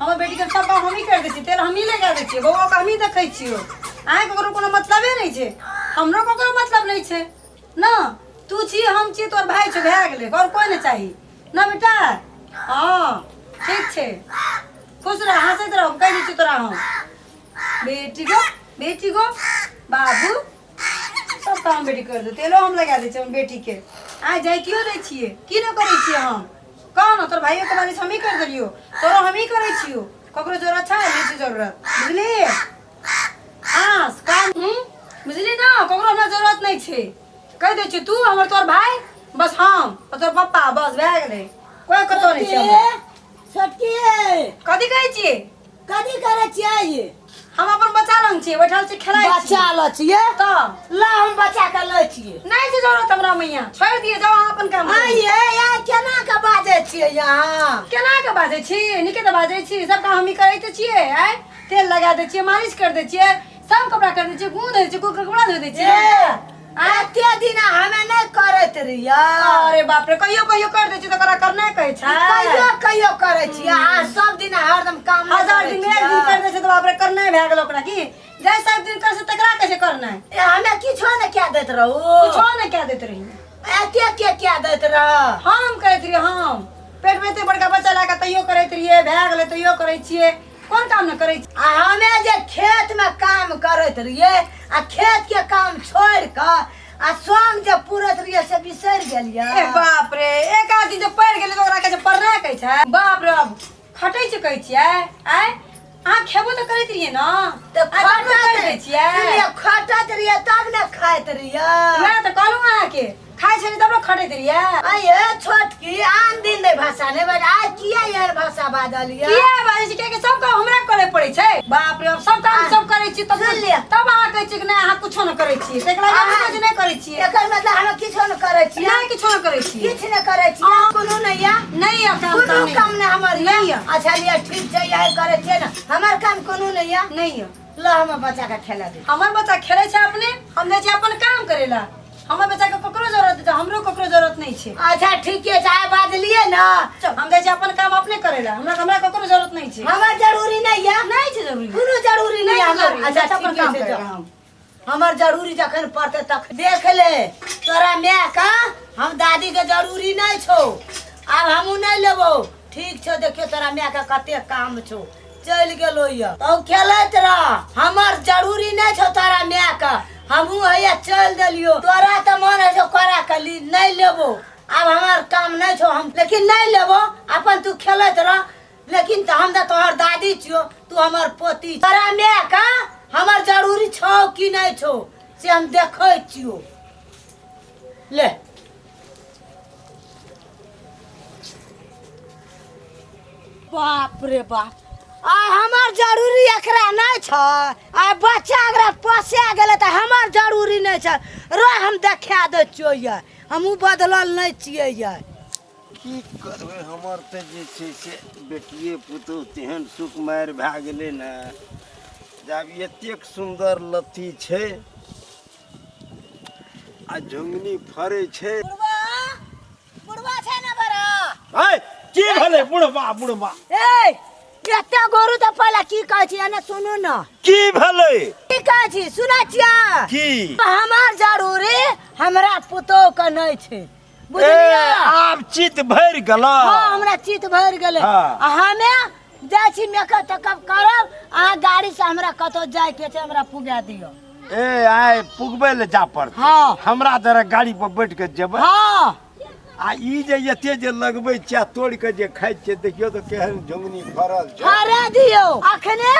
हमर बेटीके सब काम हमही करि दै छियै तेल हमही लगा दै छियै बौआके हमही देखै छियौ अहाँके ककरो कोनो मतलबे नहि छै हमरो ककरो मतलब नहि छै ने तू छी हम छी तोर भाय छै भए गेलै आओर कोइ नहि चाही ने बेटा हँ ठीक छै खुश रह हँसैत रह कहि दै छियौ तोरा हम बेटी गो बेटी गो बाबू सब काम बेटी कर दे तेलो हम लगा दे अपन बेटी के आ जाए क्यों दे छिए की न करे छिए हम कौन तोर भाई के बारे हम ही कर देलियो तोरो हम ही करे छियो ककरो जरूरत अच्छा है नहीं जरूरत बुझली हां काम हूं बुझली ना ककरो हमरा जरूरत नहीं छे कह दे छी तू हमर तोर भाई बस हम और तोर पापा बस भए गेले कोई कतो नहीं छे छोटकी कथी कहै छिए कथी करे छियै ये हम अपन बच्चा लंग छियै बैठल छी खेलाइ छी बच्चा ल छियै तऽ ला हम बच्चा के लै छियै नहि छै जरूरत हमरा मैया छोड़ दिए जाओ अहाँ अपन काम करू। आइए यार केना के बाजै छियै यहाँ केना के बाजै छी नीके तऽ बाजै छी सब काम हमही करै तऽ छियै आय तेल लगा दै छियै मालिश कर दै छियै सब कपड़ा कर दै छियै गूँध दै छियै कोइ कपड़ा धो दै छियै ए एते दिन हमे नहि करैत रहियै अरे बाप रे कहियो कहियो कर दै छी तऽ ओकरा करना कहै छै कहियो कहियो करै छियै आ सब दिन हरदम काम नहि हजार करै दिन एक दिन कर छियै। दै छै तऽ बाप रे करना भए गेल ओकरा की जै सब दिन कर से तकरा कहै छै करना ए, हमे किछो नहि कए दैत रहू कुछो नहि कह दैत रही एते के कए दैत रह हम करैत रहियै हम पेटमे एते बड़का बच्चा लए कऽ तैयो करैत रहियै भए गेलै तैयो करै छियै कोन काम ने करै छी आ हमे जे खेत में काम करैत रहिए आ खेत के काम छोड़ क आ सोम जे पूरत रहिए से बिसर गेलिए ए बाप रे एक आदमी जे पढ़ गेलै ओकरा कहै छै पढ़ना कहै छै बाप रे खटै छै कहै छियै आय अहाँ खेबो तऽ करैत रहियै ने तऽ खटैत रहियै खटैत रहियै तब ने खाइत रहियै वएह तऽ कहलहुँ अहाँके खाइ छली तब लोग खटैत रहियै आये छोटकी आन दिन दे भाषा ने बट आज किया यार भाषा बाजल ये किया बाजै छी कियाकि सब काम हमरा करे पड़ै छै बाप रे बाप सब काम सब करै छी तब सुन लिअ। तब अहाँ कहै छी कि नहि अहाँ कुछो नहि करै छी एकरा अहाँ- अहाँ कुछ नहि करै छी एकर मतलब हम किछो न करे छी नहि किछो नहि करै छी किछ न करे छी कोनो नहीं या नहि यऽ काम कोनो ताम काम न हमर या नहीं यऽ। अच्छा लिया ठीक छै यही करे छियै न हमर काम कोनो नहीं या नहि यऽ ल हमर बच्चा के खेला दे हमर बच्चा खेलै छै अपने हम जाइ छी अपन काम करै ला हमर बच्चा के ककरो जरूरत है तो हमरो ककरो जरूरत नहीं छे अच्छा ठीक है चाहे बाज लिए ना चल हम जाए अपन काम अपने करेला हमरा हमरा ककरो जरूरत नहीं छे हमार जरूरी नहीं है नहीं छे जरूरी कोनो जरूरी नहीं है हमार अच्छा अपन काम करेला हम हमार जरूरी जखन पड़ते तक देख ले तोरा मैं का हम दादी के जरूरी नहीं छो अब हमू नहीं लेबो ठीक छो देखियो तोरा मैं का कते काम छो चलि गेलो ये तब खेलैत रह हमर जरूरी नहि छौ तोरा माय के हमहूँ हैया चलि देलियो तोरा तऽ मन होइ छौ करा कली नहि लेबो आब हमर काम नहि छौ हम लेकिन नहि लेबो अपन तू खेलैत रह लेकिन तऽ हम तऽ तोहर दादी छियो तू हमर पोती छियो। तोरा माय के हमर जरूरी छौ कि नहि छौ से हम देखै छियो lẹ̀. बाप रे बाप आ हमार जरूरी एकरा नहीं छ आ बच्चा अगर पोसे गेले त हमार जरूरी नहीं छ रो हम देखा दे छियो ये हमहू बदलल नहीं छिए ये की करबै हमर तऽ जे छै से बेटिए पुतहु तेहन सुकुमारि भए गेलै ने जे आब एतेक सुन्दर लत्ती छै आ झुंगनी फरे छे बुढ़वा बुढ़वा छे ना बड़ा हाय की भले बुढ़वा बुढ़वा ए एते गोरु त पहला की कहै छी एने सुनू न की भले की कहै छी सुनै छियै की हमार जरूरी हमरा पुतोह के नै छै बुझलियै आब चित भरि गेल हँ हमरा चित भरि गेलै हँ। हमे जाइ छी मेकअप तेकअप करब अहाँ गाड़ी से हमरा कतौ जाय के छै हमरा पुगा दियौ ए आइ पुगबै लए जा पड़त हँ। हमरा जरा गाड़ी पर बैठ के जेबै हँ आ ई जे एते जे लगबै छियै तोड़ के जे खाइ छियै देखियौ तऽ केहन झुंगनी फड़ल छै हरा दियौ अखने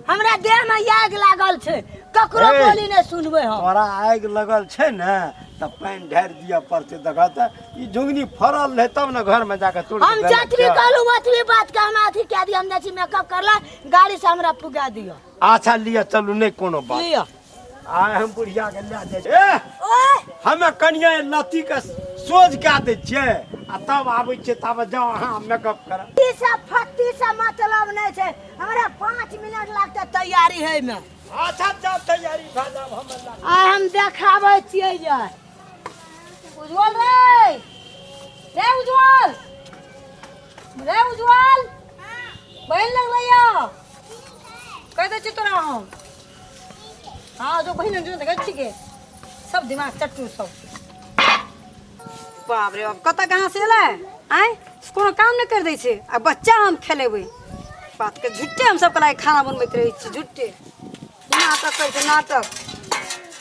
हमरा देह में आग लागल छै ककरो बोली नहीं सुनबे हम तोरा आगि लगल छै ने तऽ पानि ढारि दिअ पड़तै देखऽ तऽ ई झुंगनी फड़ल रहै तब ने घरमे जाकऽ तोड़ हम जतबी कहलहुँ ओतबी बातके हमरा अथी कए दिअ हम जाइ छी मेकअप करला गाड़ीसँ हमरा पुगा दिअ अच्छा लिअ चलू नहि कोनो बात लिअ आइ हम बुढ़िया के लए जाइ छियै एह, ओए हमे कनिया लत्ती के सोझ कए दै छियै आ तब आबै छियै तब जाउ अहाँ मेकअप करब ई सब फत्ती से मतलब नहि छै हमरा पाँच मिनट लागतै तैयारी होइमे अच्छा जा तैयारी भए जाब हम अल्लाह आइ हम देखाबै छियै जे उज्जवल रे रे उज्जवल रे उज्जवल बहिन लग भैया कहि दै छियै तोरा हम हँ जो बहिन लग जो देखै छिके सब दिमाग चट्टू सब बाप रे बाप कतऽ कहाँ से एलै आँय कोनो काम नहि कर दै छै आ बच्चा हम खेलेबै बातके झुट्टे हम सबके लागि खाना बनबैत रहै छी झुट्टे नाटक करै छै नाटक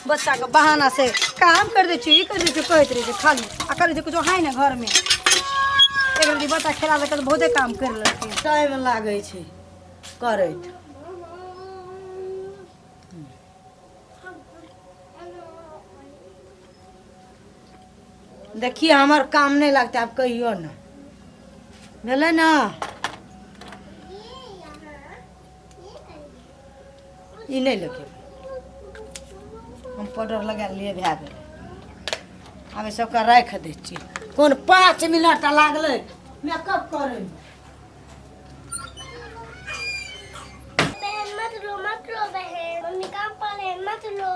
बच्चाके बहाना से काम कर दै छी ई कर दै छी कहैत रहै छै खाली आ करै छै किछो है ने घरमे एक रति बच्चा खेला देलकै तऽ बहुते काम करि लेलकै टाइम लागै छै करैत देखिए हमर काम नहीं लगता आप कहियो ना भेलै ना ई नहीं लगे हम पाउडर लगा लिए भए गेलै आब एहि सबके राखि दै छी कोन पाँच मिनट लागलै मेकअप करैमे बहन मत रो मत रो बहन मम्मी काम पर है मत रो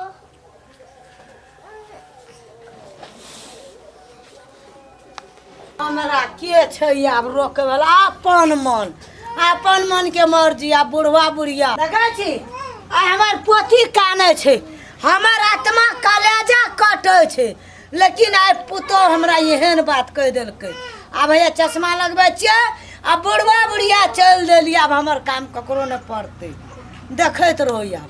हमरा के छै आब रोके वाला अपन मन अपन मन के मर्जी आ बुढ़वा बुढ़िया देखै छी आ हमर पोथी काने छै हमर आत्मा कलेजा कटै छै लेकिन आइ पुतोह हमरा एहन बात कहि देलकै आब भैया चश्मा लगबै छियै आ बुढ़वा बुढ़िया चलि देली आब हमर काम ककरो नहि पड़तै देखैत रहू आब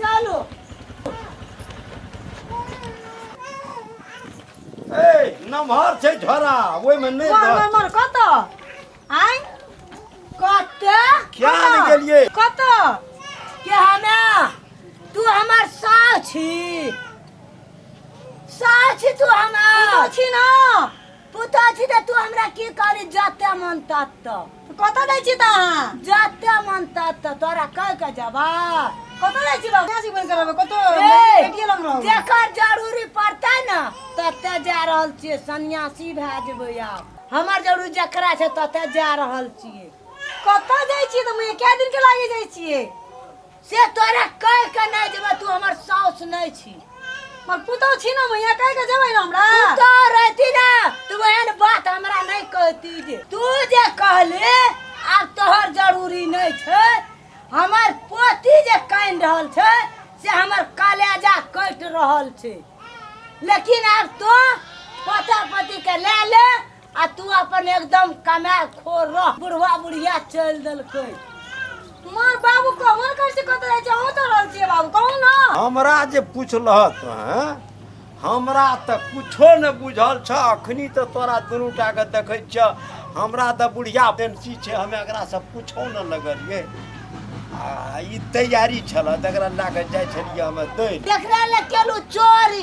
चलो ए नमहर छै झोरा ओहिमे नहि मोर मोर धर मोर कत आइ कत क्या ने गेलियै? कत के हमे तू हमर सास छी सास छी तू हमर छी ना पुतहु छी तऽ तू हमरा की करी जते मन तत कतऽ दै छी तऽ अहाँ जते मन तत तोरा कह के जबा कतऽ दै छी बाबू कैसे बन करबै कतऽ बेटिए लग रहबै जेकर जरूरी पड़तै ने तते जा रहल छियै सन्यासी भए जेबै आब हमर जरूरी जकरा छै तते जा रहल छियै कतऽ जाइ छियै तऽ मुझे कए दिन के लागे जाइ छियै से तोरा कह के नहीं जेबे तू हमर साउस नहीं छी मर पुतौ छी ना मैया कह के जेबै ना हमरा तू तो रहती ना तू एहन बात हमरा नहीं कहती जे तू जे कहले आब तोहर जरूरी नहीं छै हमर पोती जे कानि रहल छै से हमर कलेजा कटि रहल छै लेकिन आब तो पोता पोती के ले ले आ तू अपन एकदम कमाए खोर रह बुढ़वा बुढ़िया चलि देलकै मार बाबू कहाँ कर से कत रहे जाओ तो रहल छिए बाबू कहू ना हमरा जे पुछलहत हैं हमरा तऽ कुछो ने बुझल छ अखनी तऽ तोरा दुनू टा के देखै छ हमरा तऽ बुढ़िया पेंसी छै हमे एकरा से कुछो ने लगलिए आ ई तैयारी छल तकरा लए कऽ जाइ छलियै हमे दै लए। देखला ले केलू चोरी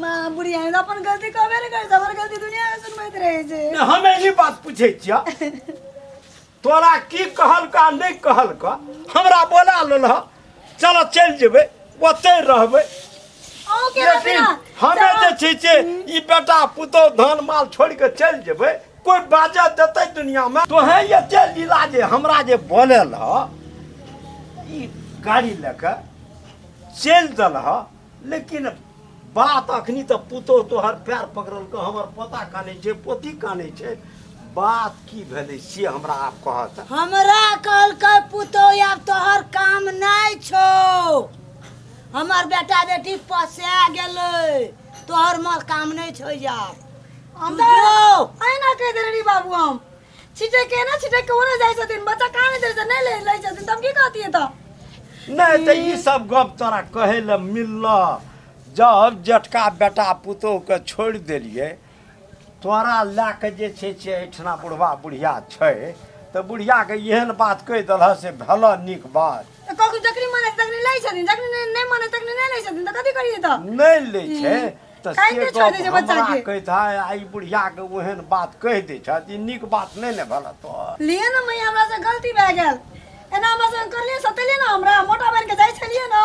माँ बुढ़िया ने अपन गलती कबे ने करता पर गलती दुनिया में सुनबैत रहे छै ने हम एही बात पूछै छिया तोरा की कहलका नहि कहलका हमरा बोला लेल ह चल चलि जेबै ओतै रहबै अहूँ के लेकिन रहबै ना हमे जे छै से ई बेटा पुतहु धन माल छोड़ि कऽ चलि जेबै कोई बाजा देते दुनिया में तो है ये तेल लीला जे हमरा जे बोले ल गाड़ी लेके चल दल ह लेकिन बात अखनी तो पुतो तोहर पैर पकड़ल के हमर पोता काने छे पोती काने छे बात की भेले से हमरा आप कहत हमरा कल के पुतो अब तोहर काम नहीं छो हमर बेटा बेटी पसे गेले तोहर माल काम नहीं छो यार हम तो अहिना कह दे रही बाबू हम छिटे के ना छिटे के ओने जाय छथिन बच्चा कहाँ नहीं दे छथिन नहीं ले ले छथिन तब की कहती है तो नहीं तो ये सब गप तोरा कहे ला मिलल जब जेठका बेटा पुतोह के छोड़ दिलिए तोरा लए कऽ जे छै से एहिठिना बुढ़वा बुढ़िया छै तऽ बुढ़ियाके एहन बात कहि देलह से भेल नीक बात तऽ ककरो जखनी मानै तखनी लै छथिन जखनी नहि- नहि मानै तखनी नहि लै छथिन तऽ कथी करियै तऽ नहि लै छै तऽ काहे से नहि छोड़ि दै छै गप हमरा बच्चाके? कहैत है आ ई बुढ़ियाके ओहन बात कहि दै छह ई नीक बात नहि ने भेल तोहर लिए ने मैया हमरा से गलती भए गेल एना हमरा से करलियै सतेलियै ने हमरा मोटा बनि के जाइ छलियै ने